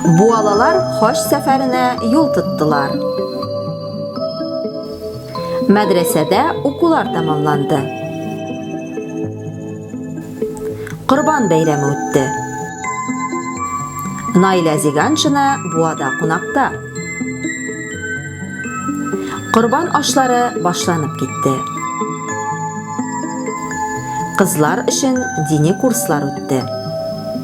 Буалалар хаҗ сәфәренә юл тоттылар. Мәдрәсәдә укулар тәмамланды. Корбан бәйрәме үтте. Наилә Зиганшина буада кунакта. Корбан ашлары башланып китте. Кызлар өчен дини курслар үтте.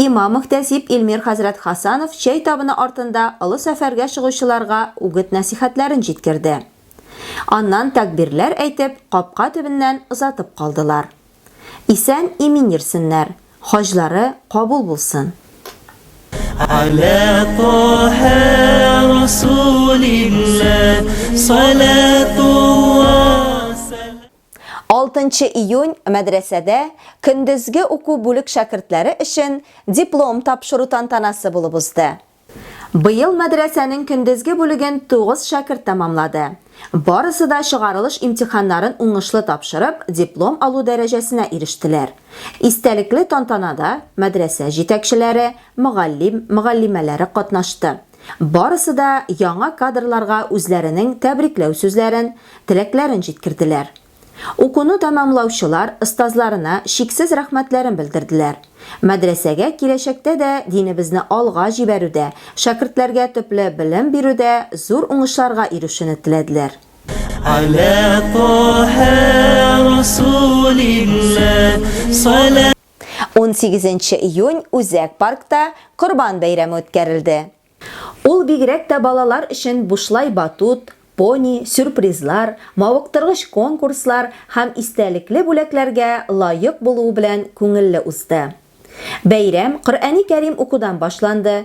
Имам-мөхтәсиб Илмир хәзрәт Хасанов чәй табыны артында олы сәфәргә чыгучыларга үгет-нәсыйхәтләрен җиткерде. Аннан тәкъбирләр әйтеп, капка төбеннән озатып калдылар. Исән-имин йөрсеннәр, хаҗлары кабул булсын! Ала Таһа Расулилла салатулла сәлам. Алтынчы июнь мәдрәсәдә көндезге уку бүлек шәкертләре өчен диплом тапшыру тантанасы булып узды. Быел мәдрәсәнең көндезге бүлеген тугыз шәкерт тәмамлады. Барысы да чыгарылыш имтиханнарын уңышлы тапшырып, диплом алу дәрәҗәсенә ирештеләр. Истәлекле тантанада мәдрәсә җитәкчеләре, мөгаллим, мөгаллимәләре катнашты. Барысы да яңа кадрларга үзләренең тәбрикләү сүзләрен, теләкләрен җиткерделәр. Укуны тәмамлаучылар остазларына чиксез рәхмәтләрен белдерделәр. Мәдрәсәгә киләчәктә дә динебезне алга җибәрүдә, шәкертләргә төпле белем бирүдә зур уңышларга ирешүне теләделәр. Галә Таһә Расулилләһ салә. 18 нче июнь Үзәк паркта Корбан бәйрәме үткәрелде. Ул бигрәк тә балалар өчен бушлай батут, пони, сюрпризлар, мавыктыргыч конкурслар һәм истәлекле бүләкләргә лаек булуы белән күңелле узды. Бәйрәм Коръәни Кәрим укудан башланды,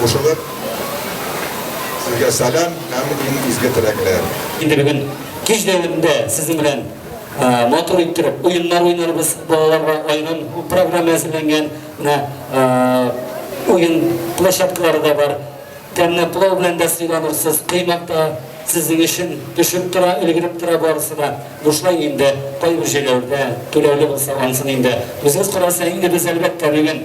кушылып, сезгә сәлам һәм иң изге теләкләр. Инде бүген кич дәверендә сезнең белән матур иттереп уеннар уйнарбыз, балаларга аерым программа әзерләнгән, менә уен площадкалары да бар. Тәмле пылау белән дә сыйланырсыз, коймак та сезнең өчен төшеп тора, өлгереп тора барысы да. Бушлай инде, кайбер җәйләүдә түләүле булса, ансын инде үзегез карарсыз. Ә инде без, әлбәттә, бүген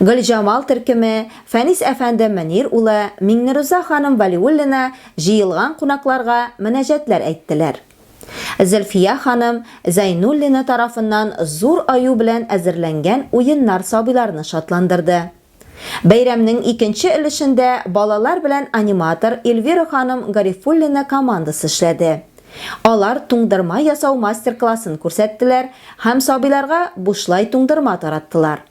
Гөлҗамал төркеме, Фәнис әфәнде Мөнир улы, Миңнеруза ханым Вәлиуллина җыелган кунакларга мөнәҗәтләр әйттеләр. Зөлфия ханым Зәйнуллина тарафыннан зур аю белән әзерләнгән уеннар сабыйларны шатландырды. Бәйрәмнең икенче өлешендә балалар белән аниматор Эльвира ханым Гарифуллина командасы эшләде. Алар туңдырма ясау мастер-классын күрсәттеләр һәм сабыйларга бушлай туңдырма тараттылар.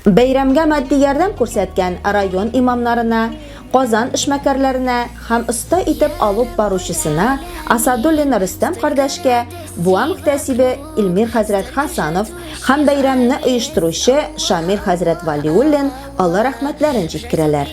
Бәйрәмгә матди ярдәм күрсәткән район имамнарына, Казан эшмәкәрләренә һәм оста итеп алуп баручысына Асадуллин Рөстәм кардәшкә, Буа мөхтәсибе Илмир хәзрәт Хасанов һәм бәйрәмне оештыручы Шамил хәзрәт Вәлиуллин олы рәхмәтләрен җиткерәләр.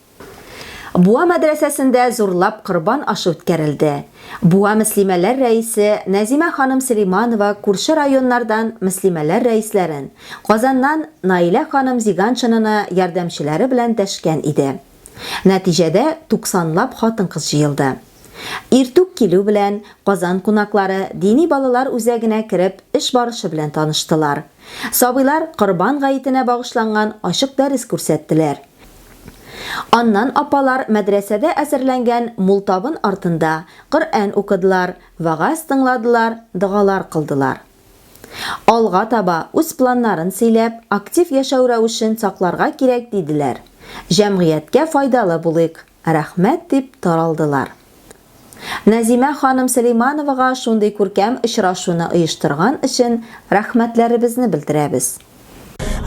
Буа мәдрәсәсендә зурлап корбан ашы үткәрелде. Буа мөслимәләр рәисе Нәзимә ханым Сөләйманова күрше районнардан мөслимәләр рәисләрен, Казаннан Наилә ханым Зиганшинаны ярдәмчеләре белән дәшкән иде. Нәтиҗәдә туксанлап хатын-кыз җыелды. Иртүк килү белән, Казан кунаклары дини балалар үзәгенә кереп, эш барышы белән таныштылар. Сабыйлар Корбан гаетенә багышланган ачык дәрес күрсәттеләр. Аннан апалар мәдрәсәдә әзерләнгән мул табын артында Коръән укыдылар, вәгазь тыңладылар, догалар кылдылар. Алга таба үз планнарын сөйләп, актив яшәү рәвешен сакларга кирәк диделәр. Җәмгыятькә файдалы булыйк, рәхмәт дип таралдылар. Нәзимә ханым Сөләймановага шундый күркәм очрашуны оештырган өчен рәхмәтләребезне белдерәбез.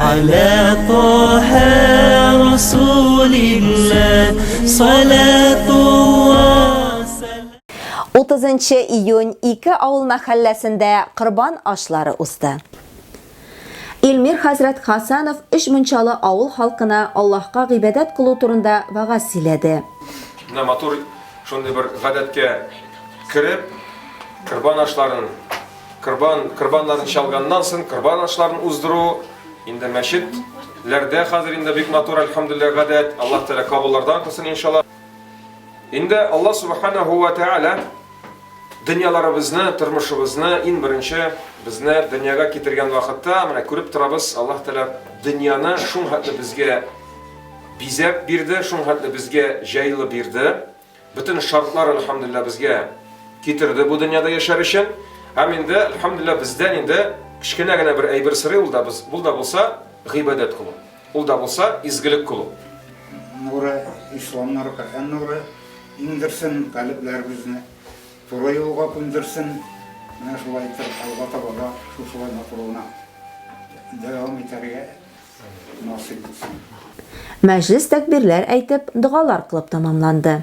Аля Тоһа Расулилла салатулла Утызынчы июнь ике авыл мәхәлләсендә корбан ашлары узды. Илмир хәзрәт Хасанов өч мунчалы авыл халкына Аллаһка гыйбадәт кылу турында вәгазь сөйләде. Менә матур шундый бер гадәткә кереп, корбан ашларын, корбан, корбаннарын чалганнан соң корбан ашларын уздыру, инде мәчет ләрдә хәзер инде бик матур, әлхәмдүлилләһ, гадәт, Аллаһ Тәгалә кабуллардан кылсын, иншаллаһ. Инде Аллаһ Субханәһү вә Тәгалә Дөньяларыбызны, тормышыбызны иң беренче безне дөньяга китергән вакытта, менә күреп торабыз, Аллаһ Тәгалә дөньяны шул хәтле безгә бизәп бирде, шул хәтле безгә җайлы бирде. Бөтен шартлар, альхамдулилла, безгә китерде бу дөньяда яшәр өчен. Һәм инде, альхамдулилла, бездән инде кечкенә генә бер әйбер сорый ул да, бул да булса, гыйбадәт кылу. Ул да булса изгелек кылу. Нуры, Ислам нуры, Коръән нуры иңдерсен, калебләребезне туры юлга күндерсен. Менә шулай итеп, алга таба да шушылай матуруына дәвам итәргә насыйп итсен. Мәҗлес тәкбирләр әйтеп, догалар кылып тәмамланды.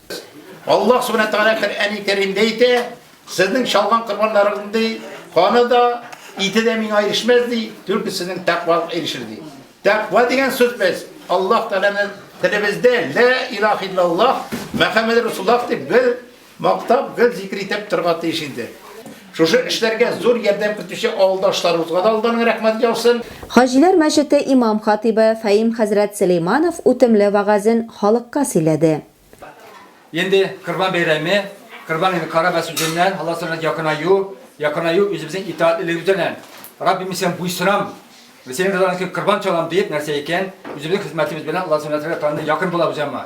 Аллаһ Сүбхәнә Тәгалә Коръәни Кәримдә әйтә, Сезнең чалган корбаннарыгыз ди, каны да, ите дә миңа ирешмәс ди, түлке сезнең тәкъвагыз ирешер ди. Тәкъва дигән сүз без Аллаһ Тәгаләнең телебездә лә илаһ иллаллаһ Мөхәммәд Рәсуллаһ дип гел мактап, гел зикер итеп торга тиеш инде. Шушы эшләргә зур ярдәм итүче авылдашларыбызга да алдан рәхмәт яусын. Хаҗиләр мәчете имам-хатыйбы Фәим хәзрәт Сөләйманов үтемле вәгазен халыкка сөйләде. Инде Корбан бәйрәме, Корбан инде кара вә сүзеннән, Алла сырына якынаю, якынаю үзебезнең итаатлелегебез белән. Раббим, мин Сиңа буйсынам, Синең ризалыгың өчен корбан чалам, диеп нәрсә икән, үзебезнең хезмәтебез белән Алла сөннәтенә якын булабыз яңа.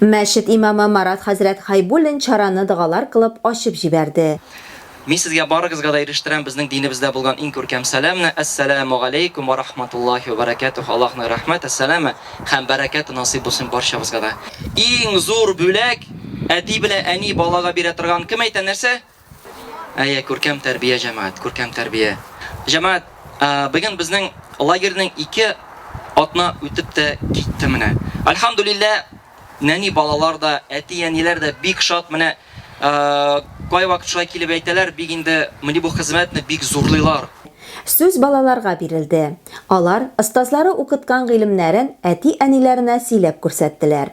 Мәчет имамы Марат хәзрәт Хәйбуллин чараны догалар кылып ачып җибәрде. Мин сезгә барыгызга да ирештерәм безнең динебездә булган иң күркәм сәламне, Әссәләмү галәйкүм вә рахматуллаһи вә бәрәкәтүһ, Аллаһның рәхмәте, сәламе һәм бәрәкәте насыйп булсын барчабызга да. Иң зур бүләк, әти белә әни балага бирә торган, кем әйтә, нәрсә? Әйе, күркәм тәрбия, җәмәгать, күркәм тәрбия. Җәмәгать, быел безнең лагерьның ике атна үтеп тә китте менә. Альхамдулилла, нәни балалар да, әти-әниләр дә бик шат. Менә кайвакыт шулай килеп әйтәләр, бик инде менә бу хезмәтне бик зурлыйлар. Сүз балаларга бирелде. Алар остазлары укыткан гыйлемнәрен әти-әниләренә сөйләп күрсәттеләр.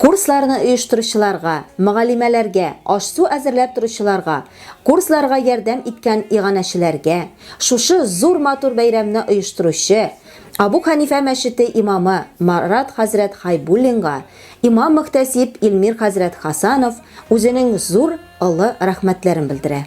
Курсларны оештыручыларга, мөгаллимәләргә, аш-су әзерләп торучыларга, курсларга ярдәм иткән иганәчеләргә, шушы зур матур бәйрәмне оештыручы Абу Хәнифә мәчете имамы Марат хәзрәт Хайбуллинга, имам-мөхтәсиб Илмир хәзрәт Хасанов үзенең зур, олы рәхмәтләрен белдерә.